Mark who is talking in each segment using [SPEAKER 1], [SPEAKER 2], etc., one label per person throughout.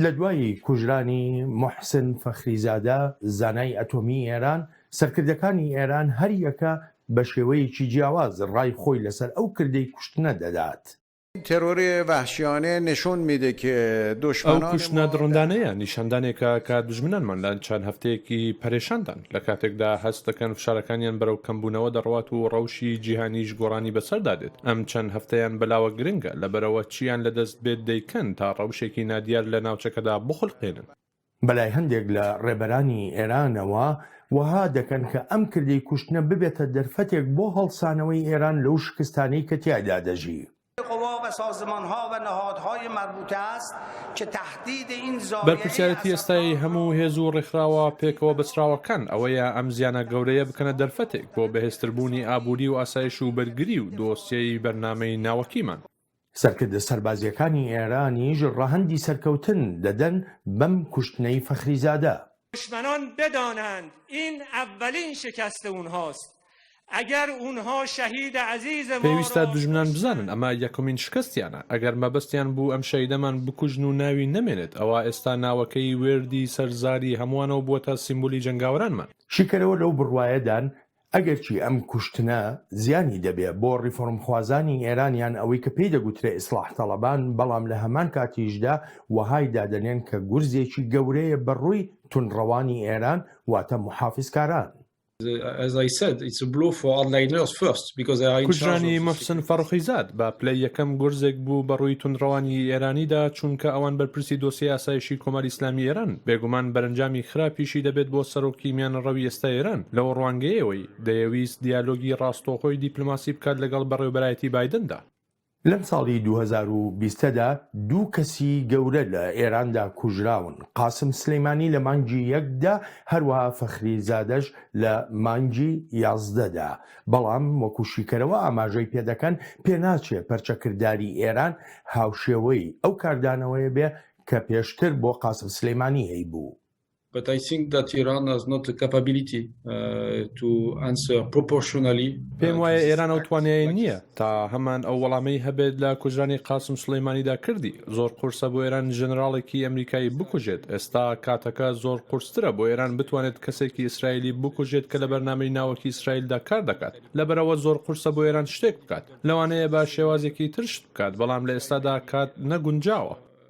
[SPEAKER 1] لە دوای کوژرانی محسن فەخریزادە زانای ئەتۆمی ئێران سەرکردەکانی ئێران هەریەکە بە شێوەیەکی جیاواز ڕای خۆی لەسەر ئەو کردەی کوشتنە دەدات
[SPEAKER 2] ئەو کوشتنە دڕندانەیە
[SPEAKER 3] نیشاندانێکە کە دوژمنانمان لە چەند هەفتەیەکی پەرێشاندان، لە کاتێکدا هەست دەکەن فشارەکانیان بەرەو کەمبوونەوە دەڕوات و ڕەوشی جیهانیش گۆڕانی بەسەردا دێت، ئەم چەند هەفتەیان بەلاوە گرنگە، لەبەرئەوە چییان لەدەست بێت دەیکەن تا ڕەوشێکی نادیار لە ناوچەکەدا بخولقێنن. بەلای هەندێک
[SPEAKER 1] لە ڕێبەرانی ئێرانەوە وەها دەکەن کە ئەم کردەی کوشتنە ببێتە دەرفەتێک بۆ هەڵسانەوەی ئێران لەو شکستانەی کە تیایدا دەژی.
[SPEAKER 3] بەرپرسیارەتی ئێستای هەموو هێز و ڕێکخراوە پێکەوە بەستراوەکان ئەوەیە ئەم زیانە گەورەیە بکەنە دەرفەتێک بۆ بەهێزتربوونی ئابووری و ئاسایش و بەرگری و دۆسیەی بەرنامەی ناوەکیمان. سەرکردە
[SPEAKER 1] سەربازییەکانی ئێرانیش ڕەهەندی سەرکەوتن دەدەن بەم کوشتنەی فەخریزادە. دشمنان
[SPEAKER 4] بدانند این اولین شکست اونهاست اگر اونها شهید عزیز ما را کشتند. پێویستە دژمنان بزانن
[SPEAKER 3] ئەمە یەکەمین شکستیانە، ئەگەر مەبەستیان بوو ئەم شەهیدەمان بکوژن و ناوی نەمێنێت، ئەوا ئێستا ناوەکەی وێردی سەر زاری هەمووانەوە بووەتە سیمبولی جەنگاوەرانمان. شیکەرەوە لەو
[SPEAKER 1] بڕوایەدان ئەگەرچی ئەم کوشتنە زیانی دەبێ بۆ ڕیفۆرمخوازانی ئێران یان ئەوەی کە پێی دەگوترێ ئیسڵاح تەڵەبان، بەڵام لە هەمان کاتیشدا وەهای دادەنێن کە گورزێکی گەورەیە بە ڕووی توندڕەوانی ئێران واتە موحافزکاران.
[SPEAKER 3] کوژرانی موحسن فەڕخیزاد بە پلەی یەکەم گورزێک بوو بە ڕووی توندڕەوانی ئێرانیدا، چونکە ئەوان بەرپرسی دۆسیەی ئاسایشی کۆماری ئیسلامی ئێرانن، بێگومان بەرەنجامی خراپیشی دەبێت بۆ سەرۆکی میانەڕەوی ئێستای ئێران. لەو ڕوانگەیەوەی دەیەویست دیالۆگی ڕاستەوخۆی دیپلۆماسی بکات لەگەڵ بەڕێوەبەرایەتی بایدندا. لەم ساڵی
[SPEAKER 1] دوو هەزار و بیست دا دوو کەسی گەورە لە ئێراندا کوژراون، قاسم سلیمانی لە مانگی یەک دا، هەروەها فەخری زادەش لە مانگی یازدە دا، بەڵام وەکو شیکەرەوە ئاماژەی پێدەکەن، پێناچێ پەرچەکرداری ئێران هاوشێوەی ئەو کاردانەوەیە بێ کە پێشتر بۆ قاسم سلیمانی هەیبوو. But I think
[SPEAKER 5] that Iran has not the capability to answer proportionally. پێم وایە ئێران
[SPEAKER 3] ئەو توانایە نییە تا هەمان ئەو وەڵامەی هەبێت لە کوژرانی قاسم سلەیمانیدا کردی زۆر قورسە بۆ ئێران ژەنراڵێکی ئەمریکایی بکوژێت ئێستا کاتەکە زۆر قورسترە بۆ ئێران بتوانێت کەسێکی ئیسرائیلی بکوژێت کە لە بەرنامەی ناوەکی ئیسرائیلدا کار دەکات لەبەرەوە زۆر قورسە بۆ ئێران شتێک بکات لەوانەیە بە شێوازێکی ترشت بکات بەڵام لە ئێستادا کات نەگونجاوە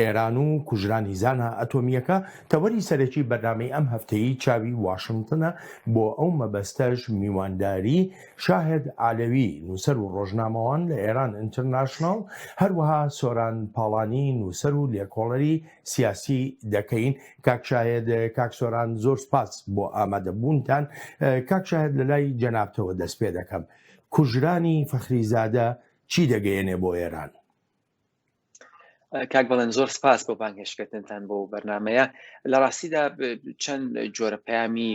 [SPEAKER 1] ئێران و کوژرانی زانا ئەتۆمییەکە تەوەری سەرەکی بەرنامەی ئەم هەفتەیەی چاوی واشنتنە، بۆ ئەو مەبەستەش میوانداری شاهد عەلەوی نووسەر و ڕۆژنامەوان لە ئێران ئینترناشناڵ، هەروەها سۆران پاڵانی نووسەر و لێکۆڵەری سیاسی دەکەین. کاک شاهد، کاک سۆران زۆر سپاس بۆ ئامادەبوونتان. کاک شاهد لە لای جەنابتەوە دەست پێدەکەم. کوژرانی فەخریزادە چی دەگەیەنێ بۆ ئێران؟
[SPEAKER 6] کاک بەڵێن زۆر سپاس بۆ بانگهێشتکردنتان بۆ بەرنمەیە لە ڕاستیدا چەند جۆرە پەیامی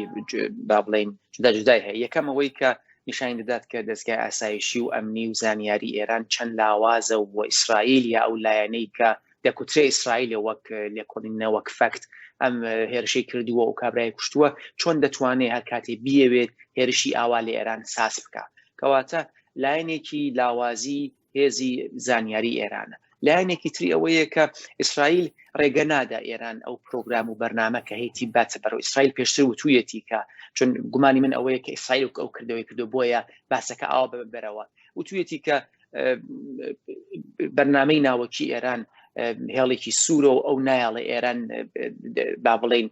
[SPEAKER 6] با بڵین جدا جدای هەیە یەکەم ئەوەی کە نیشان دەدات کە دەستگای ئاسایشی و ئەمنی و زانیاری ئێران چەند لاوازە و بۆ ئیسرائیل یا ئەو لایەنەی کە دەکوترێ ئیسرائیل وەک لێکۆڵینە وەک فەکت ئەم هێرشەی کردووە و کابرای کوشتووە چۆن دەتوانێت هەر کاتی بیەوێت هێرشی ئاوا لە ئێران ساز بکە کەواتە لایەنێکی لاوازی هێزی زانیاری ئێرانە لایەنێکی تری ئەوەیە کە ئیسرائیل ڕێگە نادا ئێران ئەو پرۆگرام و بەرنمە کە هەیەی باتە بەرەوە ئیسرائیل پێشتر وتویەتی کە چون گومانی من ئەوەیە کە ئیسرائیل ئەو کردەوەی کردو بۆیە باسەکە ئاوا بەرەوە وتویەتی کە بەرنمەی ناوەکی ئێران هێڵێکی سوورە و ئەو نایەڵە ئێران با بڵین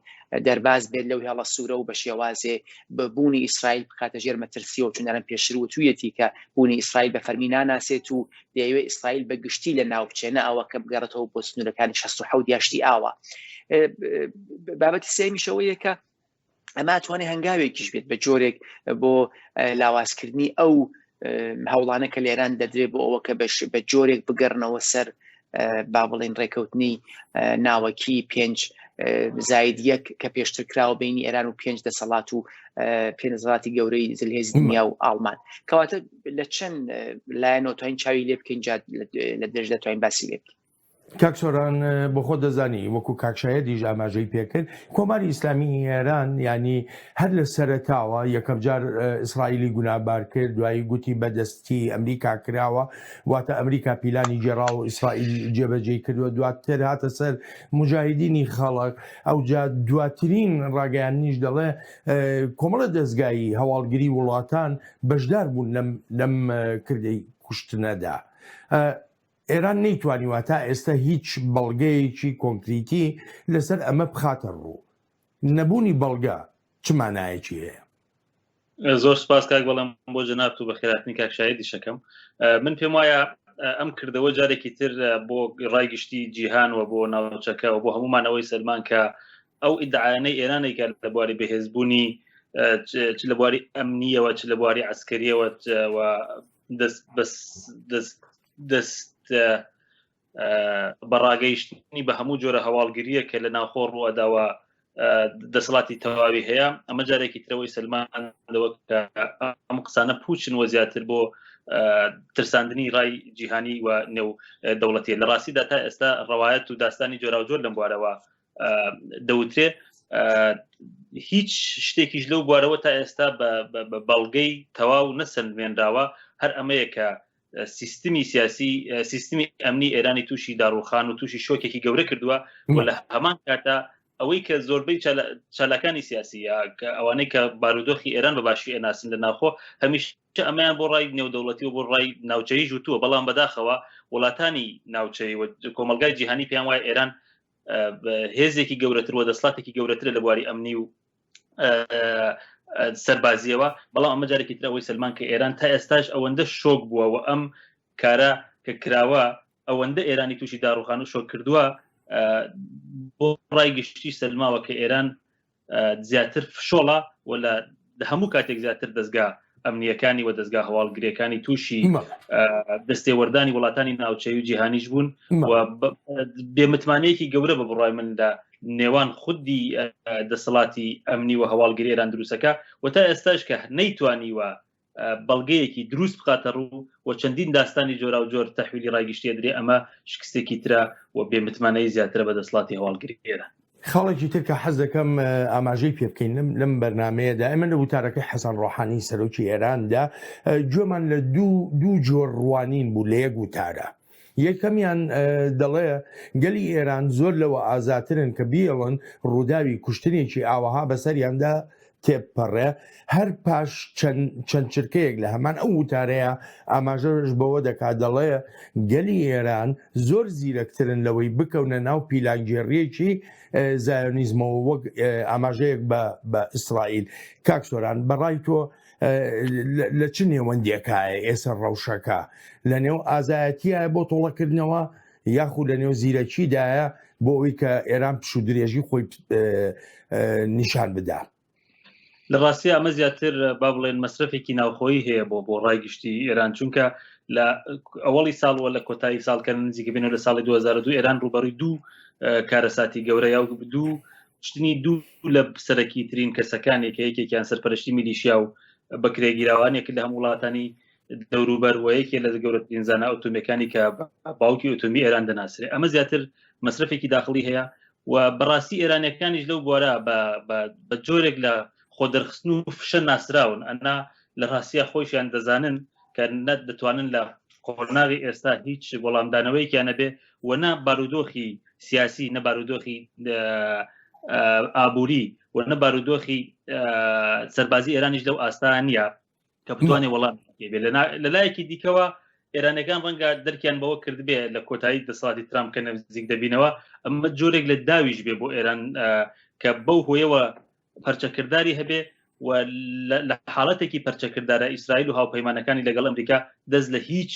[SPEAKER 6] دەرباز بێت لەو هێڵە سوورە و بە شێوازێ بە بوونی ئیسرائیل بکاتە ژێر مەترسیەوە چونەرم پێشتر و تویەتی کە بوونی ئیسرائیل بە فەرمی ناناسێت و دەیەوێ ئیسرائیل بە گشتی لە ناوچێنە ئەوە کە بگەڕێتەوە بۆ سنوورەکانی 16 یاشتی ئاوە بابەتی سێمیشەوەیەکە ئەمە توانێ هەنگاوێکیش بێت بە جۆرێک بۆ لاوازکردنی ئەو هەوڵانە کە لێران دەدرێ بۆ ئەوە کە بەش بە جۆرێک بگەڕنەوە سەر با بڵین ڕێکەوتنی ناوەکی پێنج زاید یەک کە پێشتر کراوە بینی ئێران و پێنج دەسەڵات و پێنزڵاتی گەورەی زلهێز دنیا و ئاڵمان کەواتە لە چەند لایەنەوە توین چاوی لێ بکەین لە درێژ دەتوانین باسی لێ بکەین کاک سۆران
[SPEAKER 1] بۆخۆ دەزانی وەکو کاکشایەتیش ئاماژەی پێکرد کۆماری ئیسلامی ئێران ینی هەر لە سەرتاوە یەکەم جار ئیسرائیلی گونابار کرد دوایی گوتی بەدەستی ئەمریکا کراوە واتە ئەمریکا پیلانی گێرا و ئیسرائیل جێبەجێ کردووە دواتر هاتە سەر مجاهدینی خەڵک ئەو جا دواترین ڕاگەیان نیش دەڵێ کۆمەڵە دەستگایی هەواڵگری وڵاتان بەشدار بوون لەم کردەی کوشتنەدا. ئێران نەیتوانیوە تا ئێستا هیچ بەڵگەیەکی کۆنکریتی لەسەر ئەمە بخاتە ڕوو نەبوونی بەڵگە چ مانایەکی هەیە زۆر
[SPEAKER 7] سپاس کاک بەڵام بۆ جەنات و بە خێراتنی کاک شایدی شەکەم من پێم وایە ئەم کردەوە جارێکی تر بۆ ڕای گشتی جیهان و بۆ ناوچەکە و بۆ هەمومانەوەی سەلمان کە ئەو ئیدعاانەی ئێرانێکە لە بواری بەهێزبوونی چ لە بواری ئەمنیەوە چ لە بواری ئەسکەریەوە دەست دەست دەست بەڕاگەیشتنی بە هەموو جۆرە هەواڵگریە کە لە ناوخۆ ڕوەداوە دەسەڵاتی تەواوی هەیە ئەمە جارێکی ترەوەی سلمان لەوە ئەم قسانە پوچن وە زیاتر بۆ ترساندنی ڕای جیهانی و نێو دەوڵەتی لە ڕاستیدا تا ئێستا ڕواایەت و داستانی جۆراوجۆر لەم بوارەوە دەوترێ هیچ شتێکیش لەو بوارەوە تا ئێستا بە بەڵگەی تەواو نەسەندمێنراوە هەر ئەمەیە کە سیستمی سیاسی سیستمی ئەمنی ئێرانی تووشی داڕوخان و تووشی شۆکێکی گەورە کردووە و لە هەمان کاتا ئەوەی کە زۆربەی چالاکانی سیاسی کە ئەوانەی کە بارودۆخی ئێران بە باشی ئەناسن لە ناخۆ هەمیش ئەمەیان بۆ ڕای نێودەوڵەتی و بۆ ڕای ناوچەی ژوتووە بەڵام بەداخەوە وڵاتانی ناوچەی کۆمەلگای جیهانی پێیان وایە ئێران هێزێکی گەورەتر و دەسڵاتێکی گەورەترە لە بواری ئەمنی و سەربازیەوە بەڵام ئەمە جارێکی ترەوەی سلمان کە ئێران تا ئێستاش ئەوەندە شۆک بووە و ئەم کارە کە کراوە ئەوەندە ئێرانی تووشی داڕوخان و شۆک کردووە بۆ ڕای گشتی سلماوە کە ئێران زیاتر فشۆڵە و لە هەموو کاتێک زیاتر دەستگا ئەمنیەکانی و دەستگا هەواڵگرێکانی تووشی دەستێوەردانی وڵاتانی ناوچەی و جیهانیش بوون بێمتمانەیەکی گەورە بە بڕای مندا نێوان خودی دەسەڵاتی ئەمنی و هەواڵگرێران دروستەکە و تا ئێستاش کە نەیتوانیوە بەڵگەیەکی دروست بخاتە ڕوو و چەندین داستانی جۆرا و جۆر تەحویلی ڕایگشتێ درێ ئەمە شکستێکی ترە و بێمتمانەی زیاترە بە دەسڵاتی هەواڵگری ئێرە خاڵێکی تر کە
[SPEAKER 1] حەز دەکەم ئاماژەی پێ بکەین لەم لەم بەرنمەیەدا ئەمە لە وتارەکەی حەسەن ڕۆحانی سەرۆکی ئێراندا گوێمان لە دوو دوو جۆر ڕوانین بوو لە یەک وتارە یەکەمیان دەڵێ گەلی ئێران زۆر لەوە ئازاترن کە بیڵن ڕووداوی کوشتنێکی ئاوەها بەسەریاندا تێپەڕێ هەر پاش چەند چرکەیەک لە هەمان ئەو وتارەیە ئاماژەش بەوە دەکات دەڵێ گەلی ئێران زۆر زیرەکترن لەوەی بکەونە ناو پیلانگێڕیەکی زایۆنیزمەوە وەک ئاماژەیەک بە ئیسرائیل کاکسۆران بەڕای تۆ لە چ نێوەندیەکایە ئێستا ڕەوشەکە لە نێو ئازایەتیە بۆ تۆڵەکردنەوە یاخود لە نێو زیرەکیدایە بۆ ئەوی کە ئێران پشو درێژی خۆی نیشان بدا لە
[SPEAKER 7] ڕاستی ئەمە زیاتر با بڵێن مەصرفێکی ناوخۆی هەیە بۆ بۆ ڕایگشتی ئێران چونکە لە ئەوەڵی ساڵوە لە کۆتایی ساڵکە نزیکە بینەوە لە ساڵی 2002 ئێران ڕوبەڕی دوو کارەساتی گەورە یا دوو شتنی دوو لە سەرەکی ترین کەسەکانێک یەکێکیان سەرپەرشتی میلیشیا و بەکرێگیراوانێک لە هەم وڵاتانی دەوروبەر و یەکێ لە گەورەترین زانە ئۆتۆمیەکانی کە باوکی ئۆتۆمی ئێران دەناسرێ ئەمە زیاتر مەصرفێکی داخلی هەیە و بەڕاستی ئێرانەکانیش لەو بوارە بە جۆرێک لە خۆ دەرخستن و فشە ناسراون ئەنا لە ڕاستە خۆشیان دەزانن کە نەت دەتوانن لە قۆناغی ئێستا هیچ وەڵامدانەوەیکیانە بێ و نە بارودۆخی سیاسی نە بارودۆخی ئابووری و نە بارودۆخی سەربازی ئێرانیش لەو ئاستان نییە کە بتوانێت وەڵام لە لایەکی دیکەوە ئێرانەکان ڕەنگە دەرکیان بەوە کردبێ لە کۆتایی دەسەڵاتی ترام کە نزیک دەبینەوە ئەمە جۆرێک لە داویش بێ بۆ ئێران کە بەو هۆیەوە پەرچەکردداری هەبێ و لە حاڵەتێکی پەرچەکردارە ئیسرائیل و هاوپەیمانەکانی لەگەڵ ئەمریکا دەست لە هیچ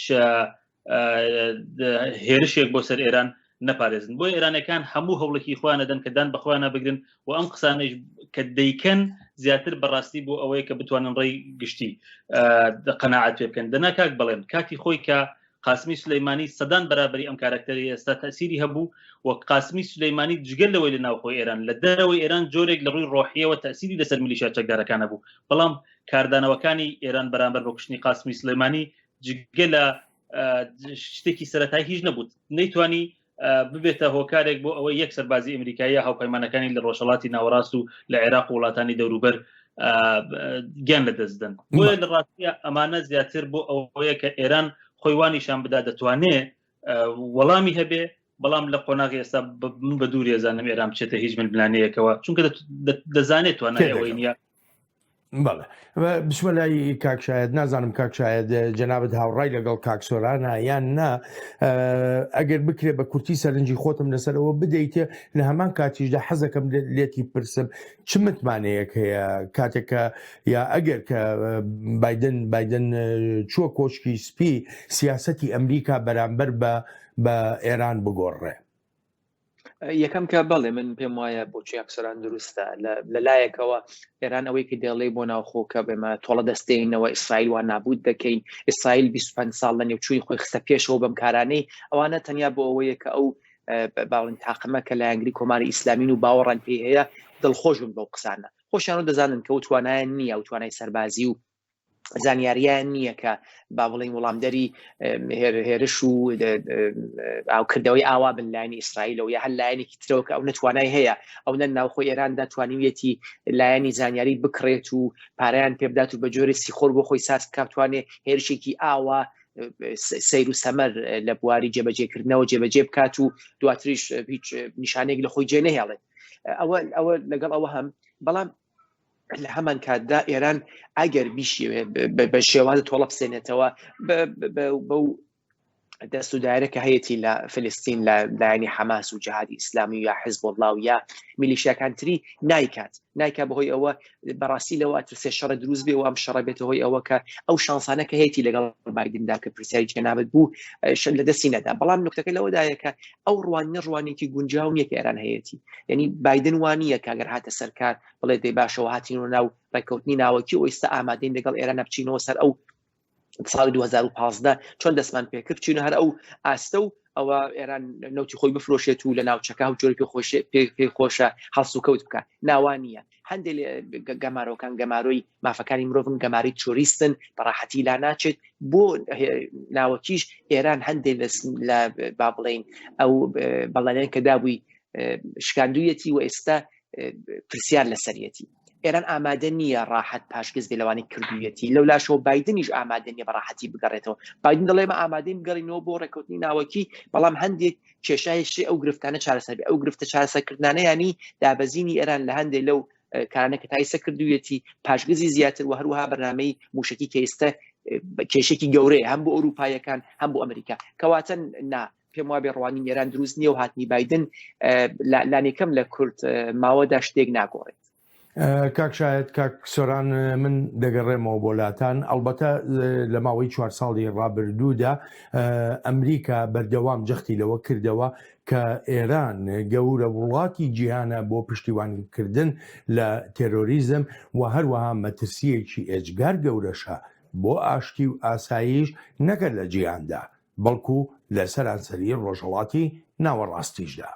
[SPEAKER 7] هێرشێک بۆ سەر ئێران نەپارێزن بۆ ئێرانەکان هەموو هەوڵێکی خۆیان دەدەن کە دان بەخۆیان نابگرن و ئەم قسانەش کە دەیکەن زیاتر بەڕاستی بۆ ئەوەیە کە بتوانن ڕێی گشتی قەنەعات پێ بکەن دەنا کاک بڵێن کاتی خۆی کە قاسمی سلەیمانی سەدان بەرابری ئەم کارکتەری ئێستا تەسیری هەبوو و قاسمی سلەیمانی جگەل لەوەی لە ناوخۆ ئێران لە دەرەوەی ئێران جۆرێک لە ڕووی ڕۆحیەوە تەسیری لەسەر ملیشا چەکدارەکانە بوو بەڵام کاردانەوەکانی ئێران بەرامبەر بە کوشتنی قاسمی سلەیمانی جگە لە شتێکی سەرەتای هیچ نەبوت نەیتوانی ببێتە هۆکارێک بۆ ئەوەی یەک سەربازی ئەمریکایە هاوپەیمانەکانی لە ڕۆژهڵاتی ناوەڕاست و لە عێراق و وڵاتانی دەوروبەر گیان لە دەستدن بۆیە لە ڕاستە ئەمانە زیاتر بۆ ئەوەیە کە ئێران خۆیوانیشان بدا دەتوانێ وەڵامی هەبێ بەڵام لە قۆناغی ئێستا من بە دووری زانم ئێرام چێتە هیچ من بلانەیەکەوە چونکە دەزانێت توانەوەی نیە بەڵێ
[SPEAKER 1] بچمە لای کاکشاید نازانم کاکشاید جەنابەت هاوڕای لەگەڵ کاکسۆرانە یان نا ئەگەر بکرێت بە کورتی سەرنجی خۆتم لەسەرەوە بدەیتە لە هەمان کاتیشدا حەزەکەم لێتی پرسم چ متمانەیەک هەیە کاتێکە یا ئەگەر کە بادن بادن چووە کۆشکی سپی سیاستی ئەمریکا بەرامبەر بە بە ئێران بگۆڕێ
[SPEAKER 6] یەکەم کە بەڵێ من پێم وایە بۆچی ئەفسەران دروستە لە لایەکەوە ئێران ئەوەی کە دێڵێ بۆ ناوخۆ کە بێمە تۆڵە دەستێنەوە ئیسرائیل وان نابوت دەکەین ئیسرائیل 25 ساڵ لە نێوچووی خۆی خستە پێشەوە بەم کارانەی ئەوانە تەنیا بۆ ئەوەیە کە ئەو باڵین تاقمە کە لایەنگری کۆماری ئیسلامین و باوەڕان پێی هەیە دڵخۆش بن بەو قسانە خۆشیان و دەزانن کە و توانایان نییە و توانای سەربازی و زانیاریان نییە کە با بڵین وڵامدەری هێرش و ئاوکردەوەی ئاوا بن لاینی ئیسرائیلەوە یا هەر لایەنێکی ترەوە کە ئەو نەتوانای هەیە ئەو نە ناوخۆ ئێراندا توانیویەتی لایەنی زانیاری بکڕێت و پاریان پێبدات و بە جۆری سیخۆر بۆ خۆی ساز کاتوانێ هێرشێکی ئاوا سیر و سەمەر لە بواری جێبەجێکردنەوە جێبەجێ بکات و دواتریش هیچ نیشانێک لە خۆی جێ نەهێڵێت ئەوە ئەوە لەگەڵ ئەوە هەم بەڵام لە هەمان کاتدا ئێران ئەگەر بیشێوێ بە شێوازە تۆڵە بسێنێتەوە بەو دەست و دایرە کە هەیەی لە فلستین لە لایەنی حەماس و جهادی ئیسلامی یا حزب وڵاو یا میلیشیاکانتری نایکات نایکا بەهۆی ئەوە بەڕاستی لەوە ترسێ شەڕە دروست بێ و ئەم شەڕە بێتە هۆی ئەوە کە ئەو شانسانە کە هەیەی لەگەڵ بادیندا کە پرسیاری جەنابەت بوو شەر لە دەستی نەدا بەڵام نکتەکە لەوەدایە کە ئەو ڕوانینە ڕوانێکی گونجاو نیە کە ئێران هەیەی یعنی بادن وانە کاگەر هاتە سەرکار بڵێ دەی باشەوە هاتین و ناو ڕێککەوتنی ناوەکی و ئێستا ئامادەین لەگەڵ ئێران بچینەوە سەر ئەو ساڵی 2015 چۆن دەستمان پێکرد چین هەر ئەو ئاستە و ئەوە ئێران نوتی خۆی بفرۆشێت و لە ناوچەکە و جۆری پێ خۆشێ پێ خۆشە هەڵسوکەوت بکە ناوانە هەندێک گەمارۆکان گەمارۆی مافەکانی مرۆڤن گەماری تۆریستن بەڕاحەتی لا ناچێت بۆ ناوەکیش ئێران هەندێک لە با بڵین ئەو بەڵێن کە دابووی شکاندویەتی و ئێستا پرسیار لەسەرەتی ئێران ئامادە نییە ڕاحەت پاشگەز بێلوانی کردویەتی لەو لاشەوە بادنیش ئامادە نیە بەڕاحەتی بگەڕێتەوە بادن دەڵێمە ئامادەی بگەڕینەوە بۆ ڕێکوتنی ناوەکی بەڵام هەندێک کێشایشی ئەو گرفتانە چارەسەبی ئەو گرفتە چارەسەکردانە ینی دابەزینی ئێران لە هەندێک لەو کارانە کە تایسە کردویەتی پاشگزی زیاتر و هەروها بەنامەی موشکی کەیستە کێشێکی گەورەیە هەم بۆ ئەوروپایەکان هەم بۆ ئەمریکا کەواتە نا پێم وابێ ڕوانی نێران دروست نییە و هاتنی بادن لانێکەم لە کورت ماوەدا شتێک ناگۆڕێت کاک
[SPEAKER 1] شاهێد کاک سۆران من دەگەڕێمەوە بۆ لاتان ئەڵبەتە لە ماوەی چوار ساڵی ڕابردوودا ئەمریکا بەردەوام جەختی لەوە کردەوە کە ئێران گەورە وڵاتی جیهانە بۆ پشتیوانیکردن لە تێرۆریزم و هەروەها مەترسیەکی ئێجگار گەورەشە بۆ ئاشتی و ئاساییش نەکرد لە جیهاندا بەڵکو لە سەرانسەری ڕۆژهڵاتی ناوەڕاستیشدا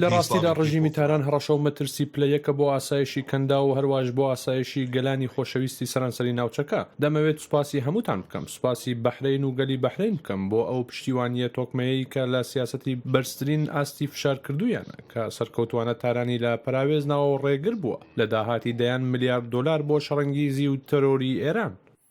[SPEAKER 8] لە ڕاستیدا ڕژیمی تاران
[SPEAKER 3] هەڕەشە و مەترسی پلە یەکە بۆ ئاسایشی کەنداو و هەرواش بۆ ئاسایشی گەلانی خۆشەویستی سەرانسەری ناوچەکە. دەمەوێت سوپاسی هەمووتان بکەم، سوپاسی بەحرەین و گەلی بەحرەین بکەم بۆ ئەو پشتیوانییە تۆکمەیەی کە لە سیاسەتی بەرزترین ئاستی فشار کردوویانە کە سەرکەوتووانە تارانی لە پەراوێز ناوە و ڕێگر بووە لە داهاتی دەیان ملیارد دۆلار بۆ شەڕەنگیزی و تەرۆری ئێران.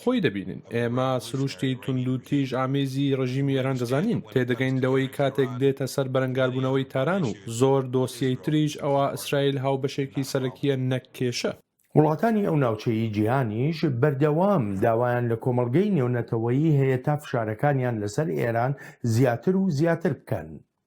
[SPEAKER 3] خۆی دەبینین. ئێمە سروشتی توندوتیژ ئامێزی ڕێژیمی ئێران دەزانین. تێدەگەین لەوەی کاتێک دێتە سەر بەرەنگاربوونەوەی تاران و زۆر دۆسیەی تریش ئەوا ئیسرائیل هاوبەشێکی سەرەکییە نەک کێشە. وڵاتانی ئەو
[SPEAKER 1] ناوچەی جیهانیش بەردەوام داوایان لە کۆمەڵگەی نێونەتەوەیی هەیە تا فشارەکانیان لەسەر ئێران زیاتر و زیاتر بکەن.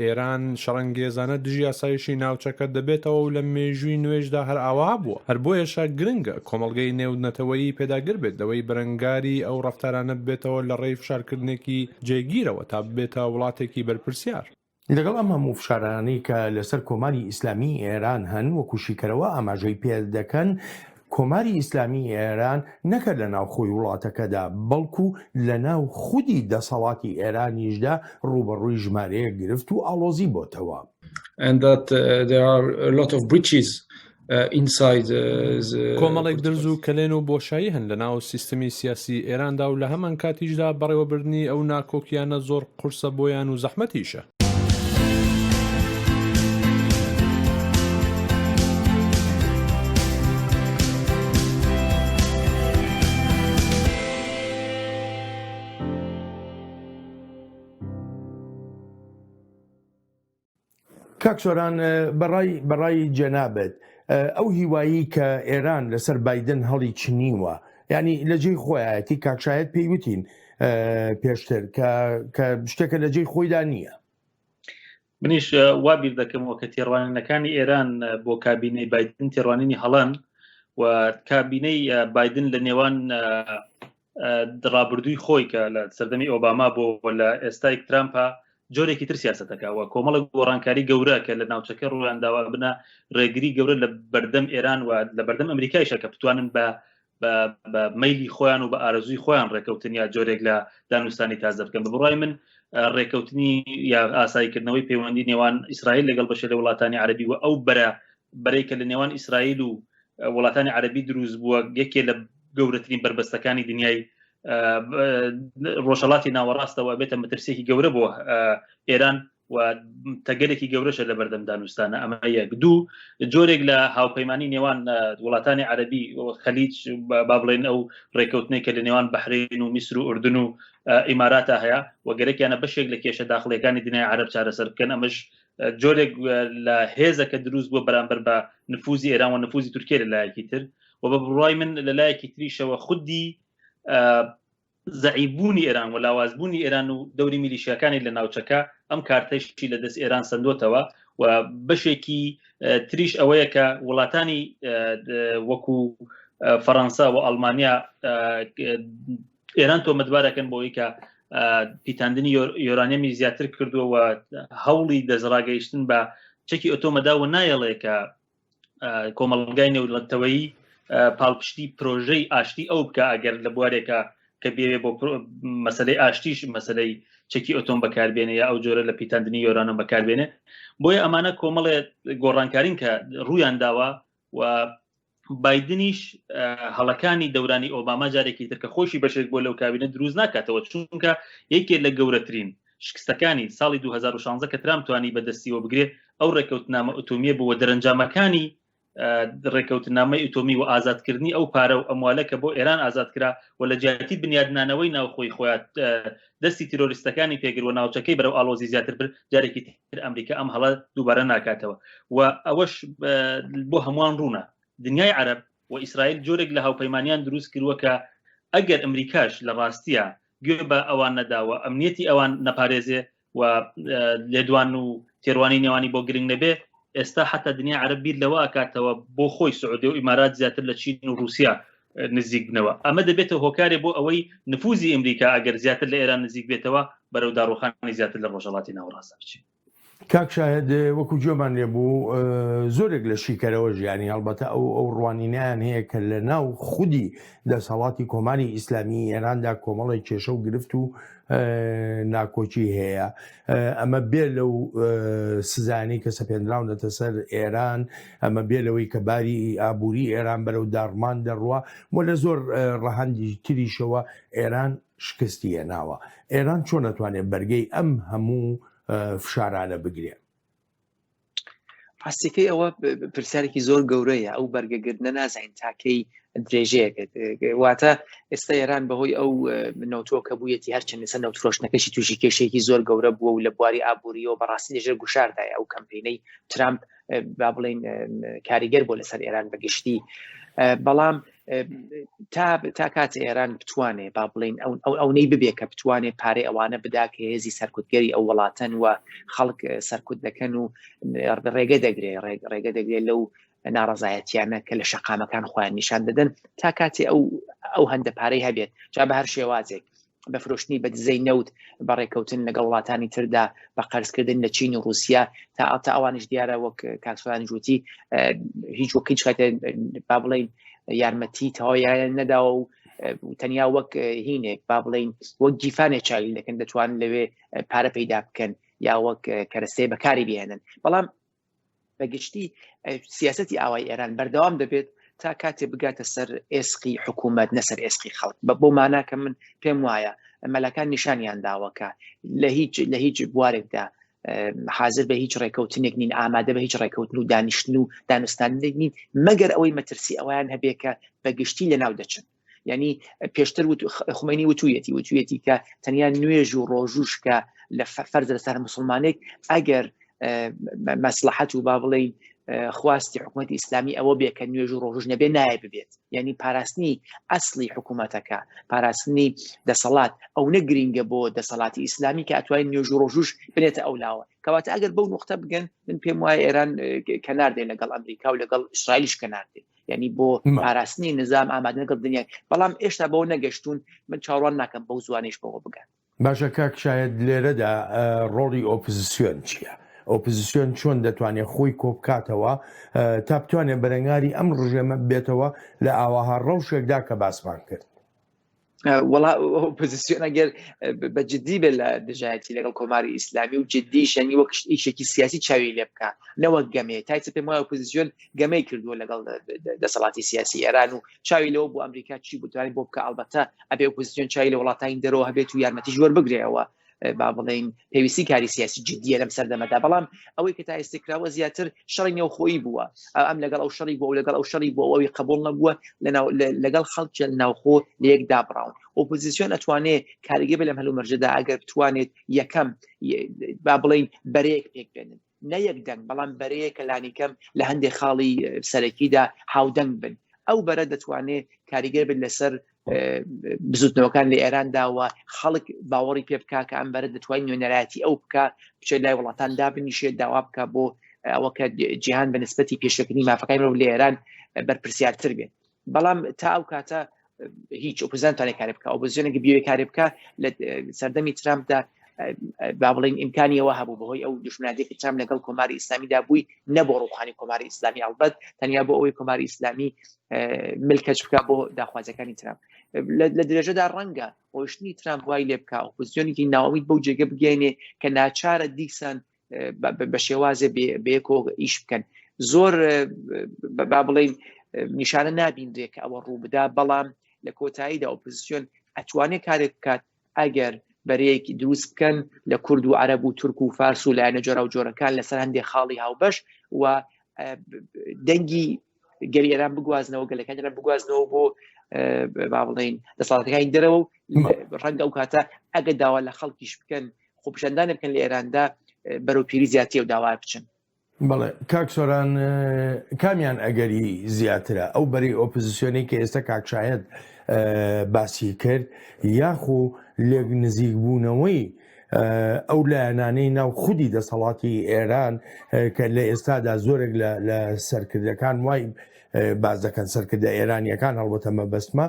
[SPEAKER 3] ئێران شەڕەنگێزانە دژی ئاسایشی ناوچەکە دەبێتەوە و لە مێژووی نوێشدا هەر ئاوا بووە، هەر بۆیەشە گرنگە کۆمەڵگەی نێودنەتەوەیی پێداگر بێت لەوەی بەرەنگاری ئەو ڕەفتارانە ببێتەوە لە ڕێی فشارکردنێکی جێگیرەوە تا ببێتە وڵاتێکی بەرپرسیار. لەگەڵ ئەم هەموو
[SPEAKER 1] فشارانەی کە لەسەر کۆماری ئیسلامیی ئێران هەن، وەکو شیکەرەوە ئاماژەی پێدەکەن، کۆماری ئیسلامیی ئێران نەک لە ناوخۆی وڵاتەکەدا، بەڵکو لە ناو خودی دەسەڵاتی ئێرانیشدا ڕووبەڕووی ژمارەیەک گرفت و ئاڵۆزی بۆتەوە.
[SPEAKER 3] کۆمەڵێک درز و کەلێن و بۆشایی هەن لە ناو سیستمی سیاسیی ئێراندا و لە هەمانکاتیشدا بەڕێوەبردنی ئەو ناکۆکییانە زۆر قورسە بۆیان و زەحمەتیشە.
[SPEAKER 1] کاک سۆران بەڕای بەڕای جەنابێت ئەو هیوایی کە ئێران لەسەر بادن هەڵی چنیوە ینی لە جێی خۆیەتی کاکشایەت پێیوتین پێشتر کە شتێکە لە جێی خۆیدا نییە
[SPEAKER 7] منیش وا بیر دەکەمەوە کە تێڕوانینەکانی ئێران بۆ کابینەی بادن تێڕوانینی هەڵەن و کابینەی بادن لە نێوان دڕابردووی خۆی کە لە سەردەمی ئۆباما بۆ لە ئێستای ترامپە جۆرێکی تر سیاستەکەەوە کۆمەڵک گۆڕانکاری گەورە کە لە ناوچەکە ڕویانداوا بنە ڕێگری گەورە لە بەردەم ئێران و لە بەردەم ئەمریکایشە کە بتوانن بە بە میلی خۆیان و بە ئارزوی خۆیان ڕێکەوتن یا جۆرێک لە دانوستانی تازە بکەن بە بڕای من ڕێکەوتنی یا ئاساییکردنەوەی پەیوەندی نێوان ئیسرائیل لەگەڵ بەشێ لە وڵاتانی عربی و ئەو بەرە بەرێکە لە نێوان ئیسرائیل و وڵاتانی عربی دروست بووە یەکێ لە گەورەترین بربەستەکانی دنیای ڕۆژەڵاتی ناوەڕاستەوە بێتە مەترسێکی گەورە بۆ ئێران و تەگەلێکی گەورەشە لە بەردەم دانوستانە ئەمە یەک دوو جۆرێک لە هاوپەیمانانی نێوان وڵاتانی عەربی خەلیج با بڵێن ئەو ڕێککەوتنێک کە لە نێوان بەحرین و میسر و ئوردن و ئیماراتە هەیە و گەرەکیانە بەشێک لە کێشە داخلەکانی دنیای عرب چارەسەر بکەن ئەمەش جۆرێک لە هێزە کە دروست بووە بەرامبەر بە نفوزی ئێران و نفوزی تورکێ لە لایەکی تر و بە بڕای من لە لایەکی تریشەوە خودی زەعیفبوونی ئێران و لاوازبوونی ئێران و دەوری میلیشیاکانی لە ناوچەکە ئەم کارتەشتی لە دەست ئێران سندۆتەوە و بەشێکی تریش ئەوەیە کە وڵاتانی وەکو فەڕەنسا و ئەڵمانیا ئێران تۆمەتبارەکەن بۆی کە پیتاندنی یۆرانەمی زیاتر کردووە و هەوڵی دەستڕاگەیشتن بە چەکی ئۆتۆمەدا و نایەڵێ کە کۆمەڵگای نێولەتەوەی پاڵپشتی پرۆژەی ئاشتی ئەو بکە ئەگەر لە بوارێکە کە بێوێ بۆ مەسلەی ئاشتیش مەسلەی چەکی ئۆتۆم بەکاربێنێ یا ئەو جۆرە لە پیتاندنی یۆرانۆم بەکاربێنێ بۆیە ئەمانە کۆمەڵێ گۆڕانکارین کە ڕویان داوە و بادنیش هەڵەکانی دەورانی ئۆباما جارێکی ترکە خۆشی بەشێک بۆ لەو کابینە دروست ناکاتەوە چونکە یەکێ لە گەورەترین شکستەکانی ساڵی دوو هەزار و شانزە کە ترامپ توانی بە دەستیەوە بگرێ ئەو ڕێکەوتنامە ئۆتۆمیە بوو و دەرەنجامەکانی ڕێکەوتنامەی ئۆتۆمی و ئازادکردنی ئەو پارە و ئەموالە کە بۆ ئێران ئازاد کرا و لە جیاتی بنیادنانەوەی ناوخۆی خۆیان دەستی تیرۆریستەکانی پێگر و ناوچەکەی بەرەو ئالۆزی زیاتر بر جارێکی تر ئەمریکا ئەم هەڵە دووبارە ناکاتەوە و ئەوەش بۆ هەمووان ڕوونە دنیای عەرب و ئیسرائیل جۆرێک لە هاوپەیمانیان دروست کردووە کە ئەگەر ئەمریکاش لە ڕاستیە گوێ بە ئەوان نەداوە ئەمنیەتی ئەوان نەپارێزێ و لێدوان و تێوانی نێوانی بۆ گرنگ نەبێ ئێستا حتا دنیا عرب بیر لەوە ئەکاتەوە بۆ خۆی سعودێ و ئیمارات زیاتر لە چین و رووسیا نزیک بنەوە ئەمە دەبێتە هۆکارێ بۆ ئەوەی نفوزی ئەمریکا ئەگەر زیاتر لە ئێران نزیک بێتەوە بەرەو داڕوخانی زیاتر لە ڕۆژەڵاتی ناوەڕاستە بچێت کاک شاهد
[SPEAKER 1] وەکو گوێمان لێ بوو زۆرێک لە شیکەرەوە ژیانی هەڵبەتە ئەو ئەو ڕوانینیان هەیە کە لە ناو خودی دەسەڵاتی کۆماری ئیسلامی ئێراندا کۆمەڵی کێشە و گرفت و ناکۆکی هەیە ئەمە بێ لەو سزانانی کە سەپێنراونەتە سەر ئێران ئەمە بێ لەوەی کە باری ئابووری ئێران بەرەو داڕمان دەڕوە و لە زۆر ڕەهندی تریشەوە ئێران شکستی هێناوە ئێران چۆن نەتوانێت بەرگەی ئەم هەموو فشارانە بگرێ
[SPEAKER 6] ڕاستەکەی ئەوە پرسیارێکی زۆر گەورەیە ئەو بەرگەگرتنە نازانین تاکەی درێژەیەکرد واتە ئێستا ئێران بەهۆی ئەو نەوتۆکە بوویەتی هەرچەند لەسەر نەوتفرۆشتنەکەشی تووشی کێشێکی زۆر گەورە بووە و لە بواری ئابووریەوە بەڕاستی لەژێر گوشاردایە ئەو کەمپینەی ترامپ با بڵین کاریگەر بۆ لەسەر ئێران بەگشتی بەڵام تا تا کات ئێران بتوانێ با بڵین ئەو ئەونەی ببێ کە بتوانێت پارەی ئەوانە بدا کە هێزی سەرکوتگەری ئەو وڵاتەن و خەڵک سەرکوت دەکەن و ڕێگە دەگرێ ڕێگە دەگرێت لەو ناڕزایەتیانە کە لە شەقامەکان خۆیان نیشان دەدەن تا کاتێ ئەو ئەو هەندە پارەی هەبێت جا بە هەر شێوازێک بە فرۆشتنی بە دزەی نەوت بە ڕێککەوتن لەگەڵ وڵاتانی تردا بە قەرزکردن لە چین و رووسیا تا ئاتا ئەوانش دیارە وەک کاکسۆرانی جوتی هیچ وەک هیچ کاتێ با بڵین یارمەتی تەواویان نەداوە و تەنیا وەک هینێک با بڵین وەک گیفانێ چاویل دەکەن دەتوان لەوێ پارە پەیدا بکەن یا وەک کەرەستەی بەکاری بێنن بەڵام بە گشتی سیاستی ئاوای ئێران بەردەوام دەبێت تا کاتێ بگاتە سەر ئێسقی حکوومەت نەسەر ئێسقی خەڵک بە بۆ ماناکە من پێم وایە مەلەکان نیشانیان داوەکە لە هیچ لە هیچ بوارێکدا حاضر بە هیچ ڕێکەوتنێک نین ئامادە بە هیچ ڕێکەوتن و دانیشتن و دانوستاندێک نین مەگەر ئەوەی مەترسی ئەویان هەبێکە بە گشتی لە ناو دەچن ینی پێشتر خومەنی وتویەتی وتویەتی کە تەنیا نوێژ و ڕۆژوش کە لە فەرز لەسەر مسلمانێک ئەگەر مەسلحەت و با بڵێ خواستی حکوومەت ئیسلامی ئەوە بێ کە نوێژ و ڕۆژ نەبێ نایە ببێت یعنی پاراستنی ئەسلی حکوومەتەکە پاراستنی دەسەڵات ئەو نە گرینگە بۆ دەسەڵاتی ئیسلامی کە ئەتوای نوێژ و ڕۆژوش بنێتە ئەو لاوە کەواتە ئەگەر بەو نقطە بگەن من پێم وایە ئێران کەناردێن لەگەڵ ئەمریکا و لەگەڵ ئیسرائیلیش کەناردێن ینی بۆ پاراستنی نظام ئامادەگەڵ دنیای بەڵام ئێشتا بەەوە نەگەشتون من چاڕوان ناکەم بەو زوانش بەوە بگەن باشە کاک شاید
[SPEAKER 1] لێرەدا ڕۆڵی ئۆپزیسیۆن چییە؟ ئۆپزیسیۆن چۆن دەتوانێت خۆی کۆبکاتەوە تا بتوانێت بەرەنگاری ئەم ڕژێمە بێتەوە لە ئاواها ڕەوشێکدا کە باسمان کرد
[SPEAKER 6] وڵا ئۆپۆزیسیۆن ئەگەر بە جددی بێت لە دژایەتی لەگەڵ کۆماری ئیسلامی و جددی شەنی وەک ئیشێکی سیاسی چاوی لێ بکە نەوەک گەمێ تایسە پێم وایە ئۆپۆزیسیۆن گەمەی کردووە لەگەڵ دەسەڵاتی سیاسی ئێران و چاوی لەوە بۆ ئەمریکا چی بوتوانانی بۆ بکە ئەڵبەتە ئەبێ ئۆپۆزیسیۆن چای لە وڵاتانی دەرەوە هەبێت و یارمەتی ژۆر بگرێەوە با بڵین پێویستی کاری سیاسی جددیە لەم سەردەمەدا بەڵام ئەوەی کە تا ئێستکراوە زیاتر شەڕی نێوخۆی بووە ئەم لەگەڵ ئەو شەڕی بۆ و لەگەڵ ئەو شەڕی بۆ ئەوی قبول نەبووە لەگەڵ خەڵکی ناوخۆ لەیەک دابڕاون ئۆپۆزیسیۆن ئەتوانێ کاریگە بە لەم هەلو مەرجدا ئەگەر بتوانێت یەکەم با بڵین بەرەیەک پێک بێنن نە یەک دەنگ بەڵام بەرەیەکە لانیکەم لە هەندێک خاڵی سەرەکیدا هاودەنگ بن ئەو بەرە دەتوانێت کاریگەر بن لەسەر بزوتنەوەکان لە ئێرانداوە خەڵک باوەڕی پێ بک کە ئەم بەرە دەتوانین نوێنەرایەتی ئەو بکە بچێت لای وڵاتان دابنیشێ داوا بکە بۆ ئەوە کە جیهان بە نسبەتی پێشەکردنی مافەکانی مرۆڤ لە ئێران بەرپرسیارتر بێت بەڵام تا ئەو کاتە هیچ ئۆپزانتانێ کارێ بکە ئۆپزیۆنێکی بیێ کارێ بکە لە سەردەمی ترامپدا با بڵین ئیمکانیەوە هەبوو بەهۆی ئەو دژمناتێکی تام لەگەڵ کۆماری ئیسلامیدا بووی نە بۆ ڕوخانی کۆماری ئیسلامی هەڵبەت تەنیا بۆ ئەوەی کۆماری ئیسلامی ملکەچ بکە بۆ داخوازەکانی ترام لە درێژەدا ڕەنگە ڕۆشتنی ترام وای لێ بکە ئۆپزیۆنێکی ناوەیت بەو جێگە بگەێنێ کە ناچارە دیسان بە شێوازێ بێکۆ ئیش بکەن زۆر با بڵین نیشانە نابینرێ کە ئەوە ڕوو بدا بەڵام لە کۆتاییدا ئۆپزیسیۆن ئەتوانێت کارێک بکات ئەگەر بەرەیەکی دروست بکەن لە کورد و عەرب و تورک و فارس و لایەنە جۆرا و جۆرەکان لەسەر هەندێک خاڵی هاوبەش و دەنگی گەری ئێران بگوازنەوە گەلەکان ئێران بگوازنەوە بۆ با بڵین دەسەڵاتەکانی دەرەوە و ڕەنگە ئەو کاتە ئەگە داوا لە خەڵکیش بکەن خۆپشاندان بکەن لە ئێراندا بەرەو پیری زیاتی و داوا بچن بڵێ کاک
[SPEAKER 1] سۆران کامیان ئەگەری زیاترە ئەو بەری ئۆپزیسیۆنی کە ئێستا کاکشایەت باسی کرد یاخۆ لێک نزیک بوونەوەی ئەو لایەنانەی ناو خودی دەسەڵاتی ئێران کە لە ئێستادا زۆرێک لە سەرکردەکان وای باز دەکەن سەرکردە ئێرانیەکان هەڵبەتە مەبەستمە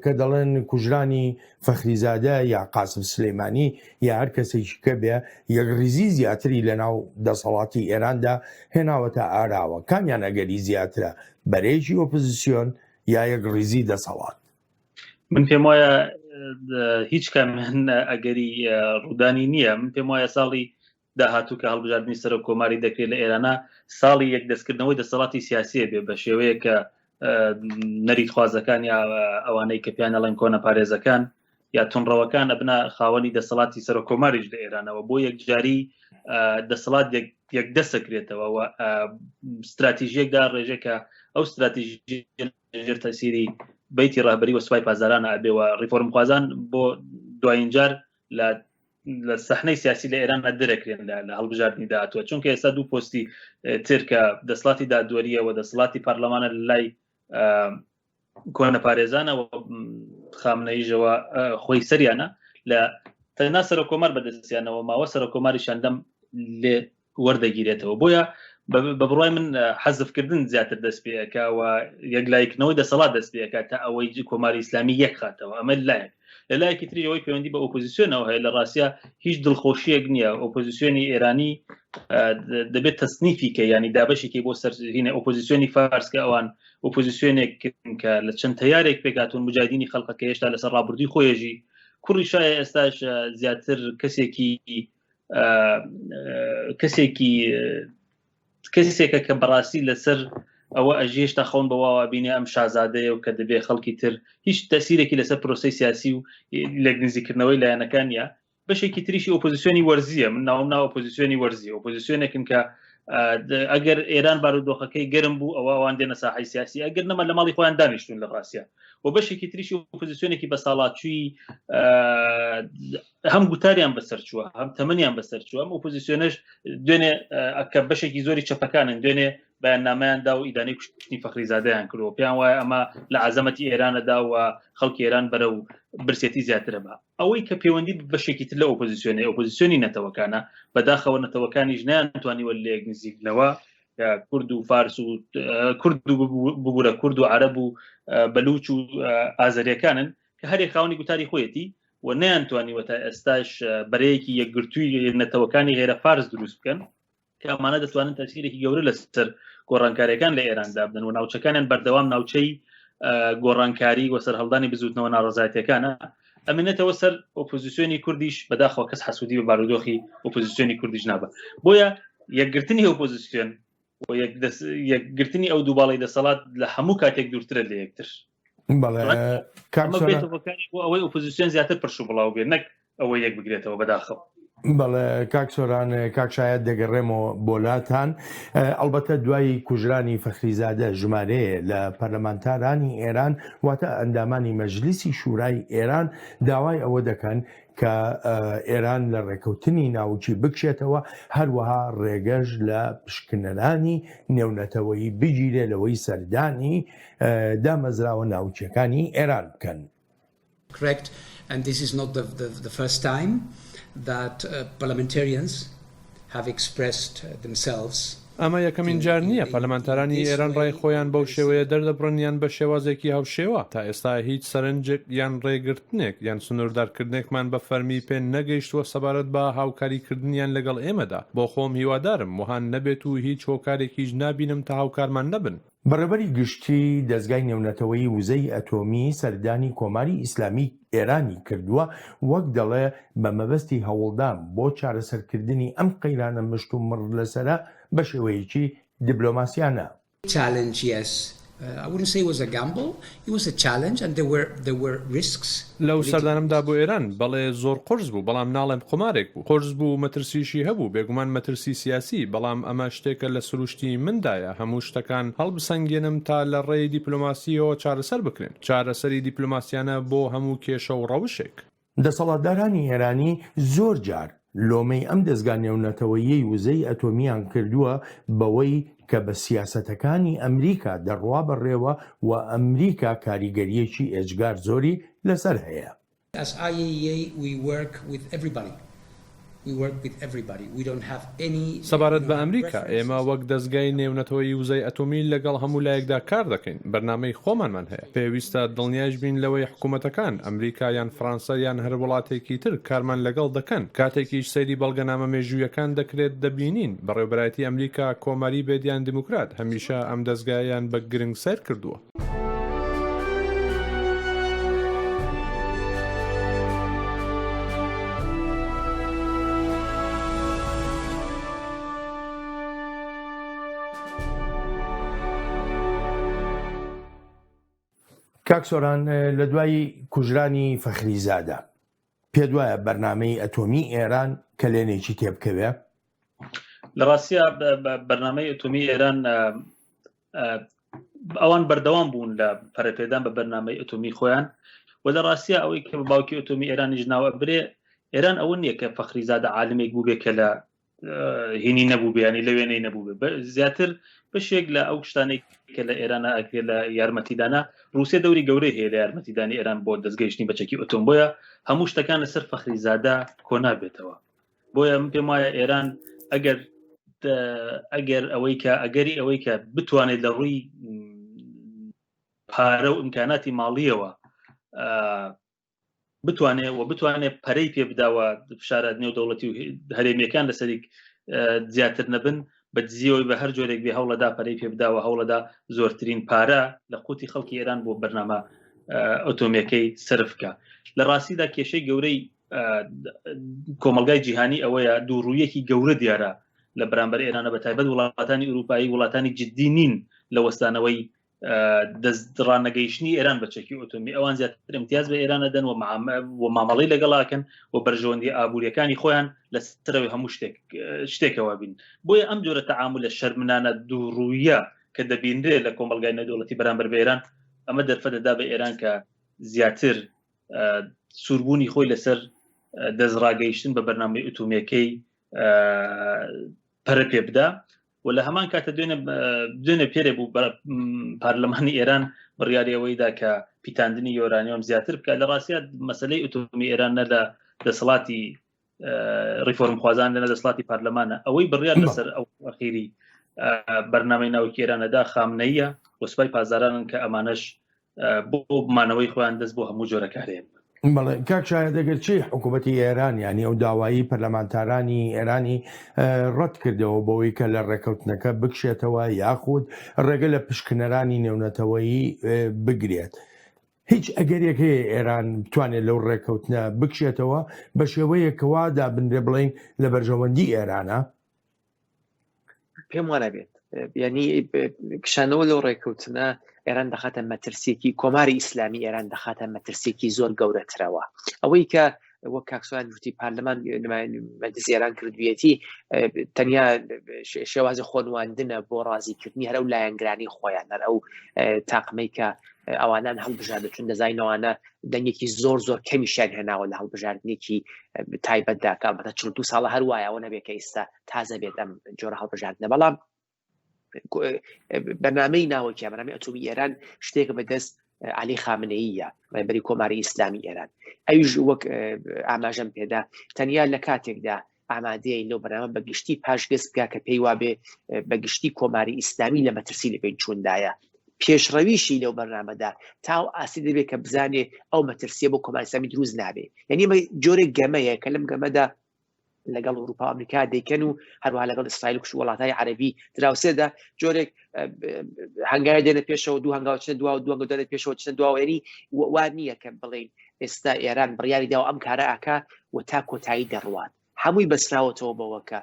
[SPEAKER 1] کە دەڵێن کوژرانی فەخریزادە یا قاسم سلەیمانی یا هەر کەسێکی کە بێ یەک ریزی زیاتری لە ناو دەسەڵاتی ئێراندا هێناوەتە ئاراوە کامیان ئەگەری زیاترە بەرێکی ئۆپزیسیۆن یا یەک ریزی دەسەڵات من
[SPEAKER 7] پێم وایە هیچ کام ئەگەری ڕوودانی نییە من پێم وایە ساڵی داهاتوو کە هەڵبژاردننی سەرۆک کۆماری دەکرێت لە ئێرانە ساڵی یەک دەستکردنەوەی دەسەڵاتی سیاسیە بێ بە شێوەیە کە نەریت خوازەکان یا ئەوانەی کە پیانە لەن کۆنە پارێزەکان یا تونڕەوەکان ئەبنا خاوەنی دەسەڵاتی سەرۆک کۆماریش لە ئێرانەوە بۆ یەکجاری دەسەڵات یەک دەسەکرێتەوە و استراتیژیەکدا ڕێژێکە ئەو استراتیژی ژێر تەسیری بیتی ڕابری وە سوپای پازداران ئابێ و ڕیفۆرمخوازان بۆ دوایینجار لە لە سەحنەی سیاسی لە ئێران دەرەکرێن لە هەڵبژاردننی داهاتوە چونکە ئێستا دوو پۆستی ترکە دەسڵاتی دادوەریە و دەسڵاتی پەرلەمانە لای کۆنە پارێزانە خامنەیژەوە خۆی سەریانە لە تەنا سەرۆ کۆمار بەدەستیانەوە ماوە سەرۆ کۆماری شەندەم لێ وەردەگیرێتەوە بۆیە بە بڕای من حەزفکردن زیاتر دەست پێەکەوە یەکلایکنەوەی دەسەڵات دەست پێەکە تا ئەوەی کۆماری ئسلامی یەکخاتەوە ئەمە لایەک لە لایەکی تری ئەوەی پەیوەندی بە ئۆپۆزیسیۆنەوە هەیە لە ڕاستە هیچ دڵخۆشیەک نییە ئۆپۆزیسیۆنی ئێرانی دەبێت تەسنیفی کە ینی دابشێکی بۆ سەرهینە ئۆپۆزیسیۆنی فارسکە ئەوان ئۆپۆزیسیۆنێک کە لە چەند تیارێک پێکاتون مجادینی خەڵقەکە هێشتا لەسەر ڕابردوی خۆیەژی کوڕی شایە ئێستاش زیاتر کەسێکی کەسێکی کەسێکە کە بەڕاستی لەسەر ئەوە ئەژێش تا خەون بەواوا بینێ ئەم شازادەیە و کە دەبێ خەڵکی تر هیچ تەسیرێکی لەسەر پرۆسی سیاسی و لە گنزیکردنەوەی لایەنەکانە بەشێکی تریشی ئۆپۆزیسیۆنی وەرزیە من ناوم ناو ئۆپۆزیسیۆنی وەرزی ئۆپۆزیسیۆنێکن کە ئەگەر ئێران بارودۆخەکەی گەرم بوو ئەوە ئەوان دێنە ساحی سیاسی ئەگەر نەمە لە ماڵی خۆیان دانیشتون لە ڕاستە و بەشێکی تریشی پوزیسیۆنێکی بە ساڵاتچوی هەم گوتاریان بەسەرچووە هەم تەمەنیان بەسەرچووە ئەم ئۆپۆزیسیۆنش دوێنێ ئەکە بەشێکی زۆری چەپەکانن دوێنێ بەیاننامەیاندا و ئیدانەی کوشتنی فەخریزادەیان کرد و پێیان وایە ئەمە لە عزەمەتی ئێرانەدا و خەڵکی ئێران بەرە و برسێتی زیاترە بە ئەوەی کە پەیوەندی بەشێکی تر لە ئۆپۆزیسیۆنی ئۆپۆزیسیۆنی نەتەوەکانە بەداخەوە نەتەوەکانی ژنیان توانیوە لێک نزیکنەوە کورد و فارس و کورد بگورە کورد و عرب و بەلوچ و ئازەریەکانن کە هەرێک خاونی گوتاری خۆیەتی و نەیانتوانیوە تا ئێستاش بەرەیەکی یەکگرتووی نەتەوەکانی غێرە فارس دروست بکەن کە ئەمانە دەتوانن تەسیرێکی گەورە لەسەر گۆڕانکاریەکان لە ئێراندا بدەن و ناوچەکانیان بەردەوام ناوچەی گۆڕانکاری و سەررهڵدانی بزوتنەوە ناڕزایەتەکانە ئەمێنێتەوە سەر ئۆپۆزیسیۆنی کوردیش بەداخەوە کەس حسوودی بە بارودۆخی ئۆپۆزیسیۆنی کوردیش نابە بۆیە یەکگرتنی ئۆپۆزیسیۆن و یەکگرتنی ئەو دووباڵی دەسەڵات لە هەموو کاتێک دوورترە لە یەکتر ئەوەی ئۆپۆزیسیۆن زیاتر پرش و بڵاو بێ نەک ئەوە یەک بگرێتەوە بەداخەوە بەڵێ
[SPEAKER 1] کاک سۆران کاک شاید دەگەڕێمەوە بۆلاتان ئەڵبەتە دوایی کوژرانی فەخریزادە ژمارەیە لە پەرلەمانتارانی ئێران واتە ئەندامانی مەجلیسی شورای ئێران داوای ئەوە دەکەن کە ئێران لە ڕێکەوتنی ناوچی بکشێتەوە هەروەها ڕێگەش لە پشکنەرانی نێونەتەوەی بگیرێ لەوەی سەردانی دامەزراوە ناوچەکانی ئێران بکەن. Correct.
[SPEAKER 9] And this is not the, the, the first time that uh, parliamentarians have expressed themselves. ئەمە یەکەمین
[SPEAKER 3] جار نییە پەرلەمانتارانی ئێران ڕای خۆیان بەو شێوەیە دەردەبڕن یان بە شێوازێکی هاوشێوە، تا ئێستا هیچ سەرنجێک یان ڕێگرتنێک یان سنووردارکردنێکمان بە فەرمی پێ نەگەیشتووە سەبارەت بە هاوکاریکردنیان لەگەڵ ئێمەدا، بۆخۆم هیوادارم وەها نەبێت و هیچ هۆکارێکیش نابینم تا هاوکارمان نەبن. بەڕێوەبەری گشتی
[SPEAKER 1] دەزگای نێونەتەوەیی وزەی ئەتۆمی سەردانی کۆماری ئیسلامی ئێرانی کردووە وەک دەڵێ بە مەبەستی هەوڵدان بۆ چارەسەرکردنی ئەم قەیرانە مشت و مڕ لەسەرە بە شێوەیەکی دبلۆماسیانە. Challenges
[SPEAKER 9] Ownersaywasagammble لەو سەردانەمدا
[SPEAKER 3] بۆ ئێران، بەڵێ زۆر قورس بوو، بەڵام ناڵێم قومارێک بوو. قورس بوو و مەترسیشی هەبوو، بێگومان مەترسی سیاسی، بەڵام ئەمە شتێکە لە سروشتی مندایە هەموو شتەکان هەڵبسەنگێنم تا لە ڕێی دیپلۆماسییەوە چارەسەر بکرێن. چارەسەری دیپلۆماسیانە بۆ هەموو کێشە و ڕەوشێک. دەسەڵاتدارانی
[SPEAKER 1] ئێرانی زۆر جار لۆمەی ئەم دەزگا نێونەتەوەییەی وزەی ئەتۆمییان کردووە بەوەی کە بە سیاسەتەکانی ئەمریکا دەڕوا بەڕێوە و ئەمریکا کاریگەرییەکی ئێجگار زۆری لەسەر هەیە. SIAEA
[SPEAKER 9] We work with everybody
[SPEAKER 3] سەبارەت بە ئەمریکا، ئێمە وەک دەزگای نێونەتەوەیی وزەی ئەتۆمی لەگەڵ هەموو لایەکدا کار دەکەین، بەرنامەی خۆمانمان هەیە. پێویستە دڵنیایش بین لەوەی حکومەتەکان، ئەمریکا یان فڕانسە یان هەر وڵاتێکی تر کارمان لەگەڵ دەکەن. کاتێکیش سەیری بەڵگەنامە مێژوویەکان دەکرێت، دەبینین بەڕێوبەرایەتی ئەمریکا، کۆماری بێت یان دیموکرات، هەمیشە ئەم دەزگایەیان بە گرنگ سەیر کردووە.
[SPEAKER 1] کاک سۆران لە دوای کوژرانی فەخریزادە پێ دوایە بەرنمەی ئەتۆمی ئێران کەلێنێکی تێبکەوێ
[SPEAKER 7] لە ڕاستە بەرنمەی ئەتۆمی ئێران ئەوان بەردەوام بوون لە پەرەپێدان بە بەرنمەی ئەتۆمی خۆیان و لە ڕاستە ئەوەی کە بە باوکی ئۆتۆمی ئێرانیش ناوە برێ ئێران ئەوە نییە کە فەخری زادە عالمێک بوو بێ کە لە هینی نەبوو بیانی لە وێنەی نەبوو زیاتر بەشێک لە ئەو شتانێک کە لە ئێرانە ئەکرێ لە یارمەتیدانە رووسێ دەوری گەورەی هەیە لە یارمەتیدانی ئێران بۆ دەستگەیشتنی بەچەکی ئۆتۆمبۆیە هەموو شتەکان لەسەر فەخری زادە کۆنابێتەوە بۆیە من پێم وایە ئێران ئەگەر ئەگەر ئەوەی کە ئەگەری ئەوەی کە بتوانێت لە ڕووی پارە و ئیمکاناتی ماڵیەوە بتوانێ و بتوانێ پەرەی پێ بداوە فشارات نێو دەوڵەتی و هەرێمیەکان لەسەریک زیاتر نەبن بە دزیەوەی بە هەر جۆرێک بێ هەوڵەدا پەرەی پێ بداوە هەوڵەدا زۆرترین پارە لە قوتی خەڵکی ئێران بۆ بەرنامە ئۆتۆمیەکەی سرفکە لە ڕاستیدا کێشەی گەورەی کۆمەلگای جیهانی ئەوەیە دوو ڕوویەکی گەورە دیارە لە بەرامبەر ئێرانە بە تایبەت وڵاتانی ئوروپایی وڵاتانی جددی نین لە وەستانەوەی دەستڕانەگەیشتنی ئێران بە چەکی ئۆتۆمی ئەوان زیاتر امتیاز بە ئێرانە دەن و و مامەڵی لەگەڵاکەن و بەرژەوەندی ئابوووریەکانی خۆیان لە سەرەوەی هەموو شتێک شتێکەوە بین بۆیە ئەم جۆرە تەعامل لە شەرمنانە دوو ڕوویە کە دەبینرێت لە کۆمەلگای نەدەوڵەتی بەرامبەر بە ئێران ئەمە دەرفەتەدا بە ئێران کە زیاتر سووربوونی خۆی لەسەر دەستڕاگەیشتن بە بەرنامەی ئوتومەکەی پەرە پێ بدا و لە هەمان کاتە دوێنە دوێنە پێرە بوو بە پارلەمانی ئێران بڕیاری ئەوەیدا کە پیتاندنی یۆرانیۆم زیاتر بکە لە ڕاستە مەسلەی ئۆتۆمی ئێران نە لە دەسەڵاتی ڕیفۆرمخوازان لەنە دەسڵاتی پارلەمانە ئەوەی بڕیان لەسەر ئەو ئەخیری بەرنامەی ناوکێرانەدا خامنەیە وەسپای پازارانن کە ئەمانەش بۆ بمانەوەی خۆیان دەست بۆ هەموو جۆرەکارێن بەڵێ کاک شاە
[SPEAKER 1] دەگەر چی حکوومەتتی ئێران ینی ئەو داوایی پەرلەمانتارانی ئێرانی ڕەت کردەوە بەوەی کە لە ڕێکەوتنەکە بکشێتەوە یاخود ڕێگە لە پشکنەرانی نێونەتەوەیی بگرێت هیچ ئەگەرێک هەیە ئێران بتوانێت لەو ڕێککەوتنە بکشێتەوە بە شێوەیە کەوا دابنرێ بڵین لە بەرژەوەندی ئێرانە
[SPEAKER 6] پێم وانە بێت ینی کشانەوە لەو ڕێککەوتنە ئێران دەخاتە مەترسیەکی کۆماری ئیسلامی ئێران دەخاتە مەترسیەکی زۆر گەورەترەوە ئەوەی کە وەک کاکسوان گوتی پارلەمان مەجلس ئێران کردویەتی تەنیا شێوازی خۆنواندنە بۆ ڕازیکردنی هەرە و لایەنگرانی خۆیان هەر ئەو تاقمەی کە ئەوانان هەڵبژاردە چون دەزینەوانە دەنگێکی زۆر زۆر کەمیشیان هێناوە لە هەڵبژاردنێکی تایبەتدا کاڵبەتە چ دو ساڵە هەروایەوە نەبێت کە ئیستا تازە بێت ئەم جۆرە هەڵبژاردنە بەڵام بەنامەی ناوەکی بەنامی ئەتومی ئێران شتێکە بەدەست علی خامنەیە ڕێبەری کۆماری ئیسلامی ئێران ئەویش وەک ئاماژەم پێدا تەنیا لە کاتێکدا ئامادەیە لەو بەنامە بەگشتی پاشگەز بکە کە پێی وابێ بەگشتی کۆماری ئیسلامی لە مەترسی لە پێی چوندایە پێشڕەویشی لەو بەرنامەدا تاو ئاسی دەبێت کە بزانێ ئەو مەترسیە بۆ کۆمانسامی دروست نابێ یعنی جۆرە گەمەیە کە لەم گەمەدا لەگەڵ ئەوروپا ئەمریکا دەیکەن و هەروە لەگەڵ ئیسرائیل کوش وڵاتای عربی دراوسێدا جۆرێک هەنگای دێنە پێشەوە دوو هەنگاوچە دو دووە دەێت پێشەوە چە دواێنی وان نییە کە بڵین ئێستا ئێران بڕیاری داوە ئەم کارە ئاکا و تا کۆتایی دەڕوات هەمووی بەسراوەتەوە بەوە کە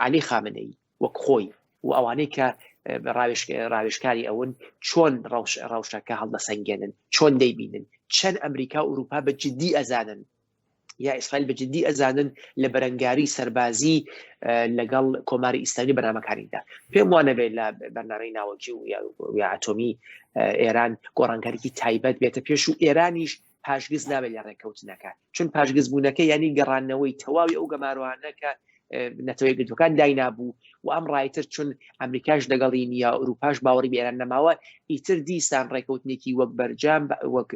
[SPEAKER 6] علی خامنەی وەک خۆی و ئەوانەی کە ڕاوێشکاری ئەون چۆن ڕەوشەکە هەڵدەسەنگێنن چۆن دەیبینن چەند ئەمریکا و ئوروپا بە جددی ئەزانن یا ئیسرائیل بە جددی ئەزانن لە بەرەنگاری سەربازی لەگەڵ کۆماری ئیسلامی بەنامەکانیدا پێم وانە بێت لە بەرنامەی ناوەکی و یاعاتۆمی ئێران گۆڕانکاریکی تایبەت بێتە پێش و ئێرانیش پاشگز نابێت لە ڕێککەوتنەکە چون پاشگز بوونەکە ینی گەڕانەوەی تەواوی ئەو گەماروانەکە نەتەوەی گرتوەکان داینابوو و ئەم ڕایتر چون ئەمریکاش دەگەڵی نیە ئەوروپاش باوەڕی بێران نەماوە ئیتر دیسان ڕێکوتنێکی وەک بەرجام وەک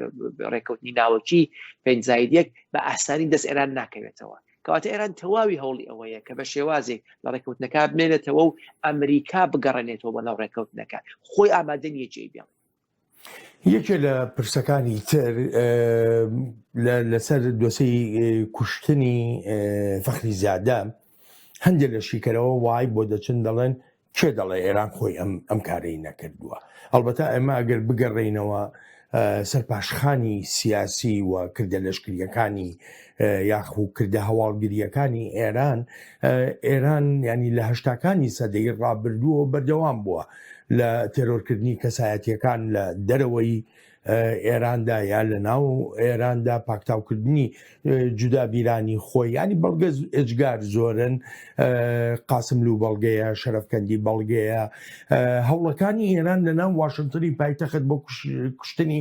[SPEAKER 6] ڕێکوتنی ناوەکی پێنجزایدێک بە ئاسانی دەست ئێران ناکەوێتەوە کەواتە ئێران تەواوی هەوڵی ئەوەیە کە بە شێوازێک لە ڕێکوتنەکە بمێنێتەوە و ئەمریکا بگەڕێنێتەوە بە ناو ڕێکەوتنەکە خۆی ئامادە نیە جێ بێڵێت یەکێ
[SPEAKER 1] لە پرسەکانی تر لەسەر دۆسەی کوشتنی فەخری زیادە هەندێک لە شیکەرەوە وای بۆ دەچن دەڵێن کێ دەڵێ ئێران خۆی ئەم ئەم کارەی نەکردووە ئەڵبەتا ئێمە ئەگەر بگەڕێینەوە سەرپاشخانی سیاسی و کردە لەشکریەکانی یاخو کردە هەواڵگریەکانی ئێران ئێران ینی لە هەشتاکانی سەدەی ڕابردووە بەردەوام بووە لە تێرۆرکردنی کەسایەتیەکان لە دەرەوەی ئێراندا یا لە ناو ئێراندا پاکتاوکردنی جودا بیرانی خۆی ینی بەڵگە ئجگار زۆرن قاسم لو بەڵگەیە شەرفکەندی بەڵگەیە هەوڵەکانی ئێران لە ناو واشنگتنی پایتەخت بۆ کوشتنی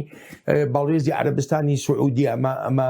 [SPEAKER 1] باڵێزی عربستانی سعودی ئەمە ئەمە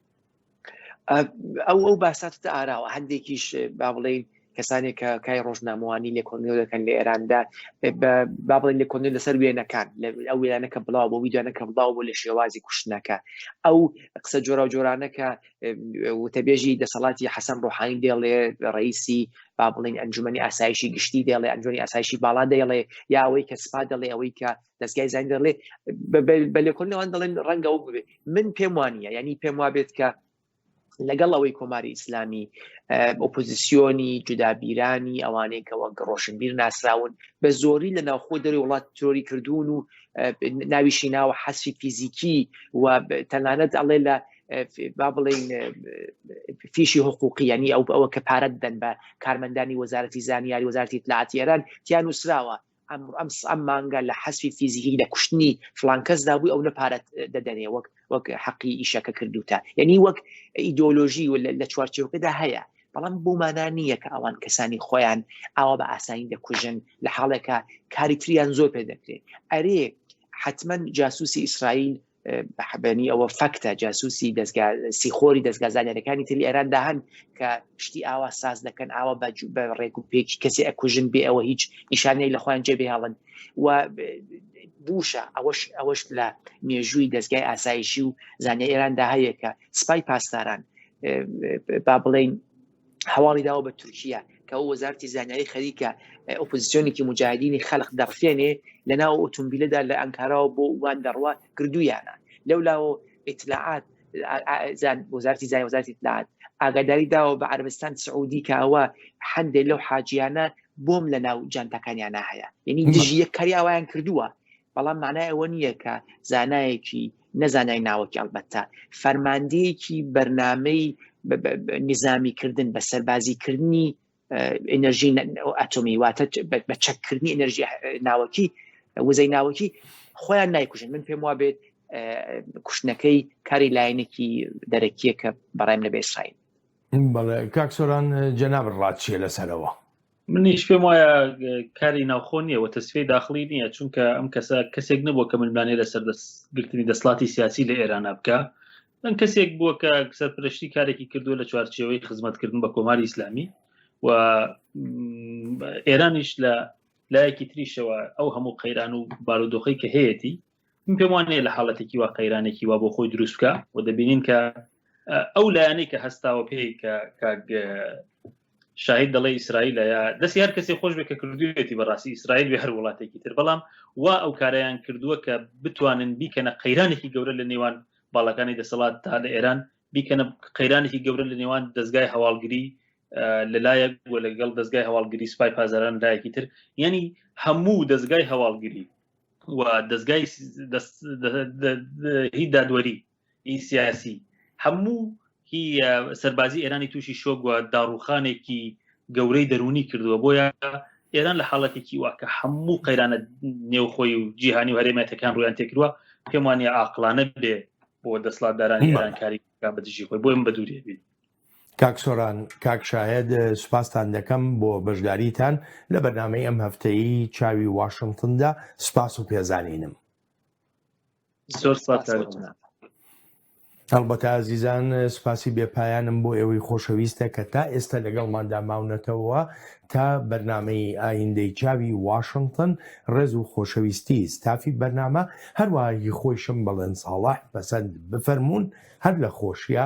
[SPEAKER 1] ئەو
[SPEAKER 6] ئەو باساتتە ئاراوە هەندێکیش با بڵین کەسانێک کە کای ڕۆژنامەوانی لە کۆنیۆ دەکەن لە ئێراندا با بڵێن لە کۆنیۆ لەسەر وێنەکان ئەو وێنەکە بڵاو بۆ ویدانەکە بڵاو بۆ لە شێوازی کوشتنەکە ئەو قسە جۆرا جۆرانەکە وتەبێژی دەسەڵاتی حەسەن ڕۆحانی دێڵێ ڕئیسی با بڵین ئەنجومی ئاسایشی گشتی دێڵێ ئەنجۆنی ئاسایشی باڵا دەیڵێ یاوەی کە سپا دەڵێ ئەوەی کە دەستگای زانین دەڵێ بە لێکۆنەوەوان دەڵێن ڕەنگە ئەو بێت من پێم وانە ینی پێم وابێت کە لەگەڵ ئەوەی کۆماری ئیسلامی ئۆپۆزیسیۆنی جودابیرانی ئەوانەی کەەوە ڕۆشنبیر ناسراون بە زۆری لە ناوخۆ دەری وڵات تۆری کردوون و ناویشی ناوە حەسی فیزیکی و تەنانەت ئەڵێ لە با بڵین فیشی حقوقی ینی ئەو ئەوە کە پارەت دەن بە کارمەندانی وەزارەتی زانیاری وەزارتی اطلاعاتی ئێران تیان نووسراوە ئەم مانگە لە حەزفی فیزیکی لە کوشتنی فلان کەسدا بووی ئەو نە پارەت دەدەنێ وەک وەک حەقی ئیشەکە کردوتە یعنی وەک ئیدۆلۆژی و لە چوارچێوکەدا هەیە بەڵام بۆ مانا نییە کە ئەوان کەسانی خۆیان ئاوا بە ئاسانی دەکوژن لە حاڵێکە کاری تریان زۆر پێ دەکرێت ئەرێ حتمما جاسوسی ئیسرائیل بەحبێنی ئەوە فەکتە جاسوسی دەستگا سیخۆری دەستگا زانانیەکانی تری ئێران داهن کە شتی ئاوا ساز دەکەن ئاوا بەجو بە ڕێک و پێکی کەسی ئەکوژن بێ ئەوە هیچ نیشانەی لە خۆیان جێ بهێڵن و بوشە ئەوەش ئەوەش لە مێژووی دەستگای ئاسایشی و زانانی ئێراندا هەیە کە سپای پاسداران با بڵین هەواڵی داوە بە تورکیا کە ئەو وەزارتی زانیاری خەریکە ئۆپۆزیسیۆنێکی مجاهدینی خەلق دەڕفێنێ لە ناو ئۆتۆمبیلەدا لە ئەنکاراوە بۆ وان دەڕوا کردویانە لەولاوە ئیتلاعات وەزارتی زای وەزارتی ئیتلاعات ئاگاداری داوە بە عربستان سعودی کاوە هەندێک لەو حاجیانە بۆم لە ناو جانتەکانیانە هەیە یعنی دژیە کاری ئاوایان کردووە بەڵام مانای ئەوە نییە کە زانایەکی، نە زانای ناوەکی ئەڵبەتە، فەرماندەیەکی بەرنامەی نیزامیکردن، بە سەربازیکردنی ئینەرژی ئەتۆمی واتە بە چەککردنی ئینەرژی ناوەکی وزەی ناوەکی خۆیان نایکوژن من پێم وا بێت کوشتنەکەی کاری لایەنێکی دەرەکیە کە بەڕێم لە بێسرائیل بەڵێ
[SPEAKER 1] کاکسۆران جەناب ڕات چیە لەسەرەوە منیش پێم
[SPEAKER 7] وایە کاری ناوخۆ نییە و تەسفی داخلی نییە چونکە ئەم کەسە کەسێک نەبووە کە ملمانێ لەسەر دەستگرتنی دەسڵاتی سیاسی لە ئێرانە بکە من کەسێک بووە کە سەرپرشتی کارێکی کردو لە چوارچێوەی خزمەتکردن بە کۆماری ئیسلامی و ئێرانیش لە لایەکی تریشەوە ئەو هەموو قەیران و بارودۆخی کە هەیەی من پێم وان نیە لە حاڵەتێکی وا قەیرانێکی وا بۆ خۆی دروستکە و دەبینین کە ئەو لایەنەی کە هەستاوە پێی کە شاهید دەڵێ ئیسرائیل یا دەستی هەر کەسی خۆش بێ کە کردوێتی بەڕاستی ئیسرائیل بێ هەر وڵاتێکی تر بەڵام وا ئەو کارەیان کردووە کە بتوانن بیکەنە قەیرانێکی گەورە لە نێوان باڵەکانی دەسەڵات تا لە ئێران بیکەنە قەیرانێکی گەورە لە نێوان دەستگای هەواڵگری لەلایەک وە لەگەڵ دەستگای هەواڵگری سپای پازاران لایەکی تر یعنی هەموو دەستگای هەواڵگری و دەستگای هی دادوەری ئی سیاسی هەموو هی سەربازی ئێرانی تووشی شۆگووە داڕوخانێکی گەورەی دەرونی کردووە بۆیە ئێران لە حاڵەتێکی واکە هەموو قەیرانە نێوخۆی و جیهانی و هەرێمەتەکان ڕویان تێکرووە پێمانی ئاقلانە بێ بۆ دەسڵاتدارانی ئێرانکاری بەدژی خۆی بۆیم بە دووری بین کاک سۆران
[SPEAKER 1] کاک شاهێد سوپاستان دەکەم بۆ بەشداریتان لە بەرنمەی ئەم هەفتەی چاوی واشنگتندا سوپاس و پێزانینم زۆر
[SPEAKER 7] سپاس
[SPEAKER 1] هەڵبەتە ئازیزان سوپاسی بێپایانم بۆ ئێوەی خۆشەویستە کە تا ئێستا لەگەڵماندا ماونەتەوە تا بەرنمەی ئایندەی چاوی واشنگتن ڕێز و خۆشەویستی ستافی بەرنامە هەروەهی خۆیشم بەڵێن ساڵح پەسەند بفەرمونون هەر لە خۆشیە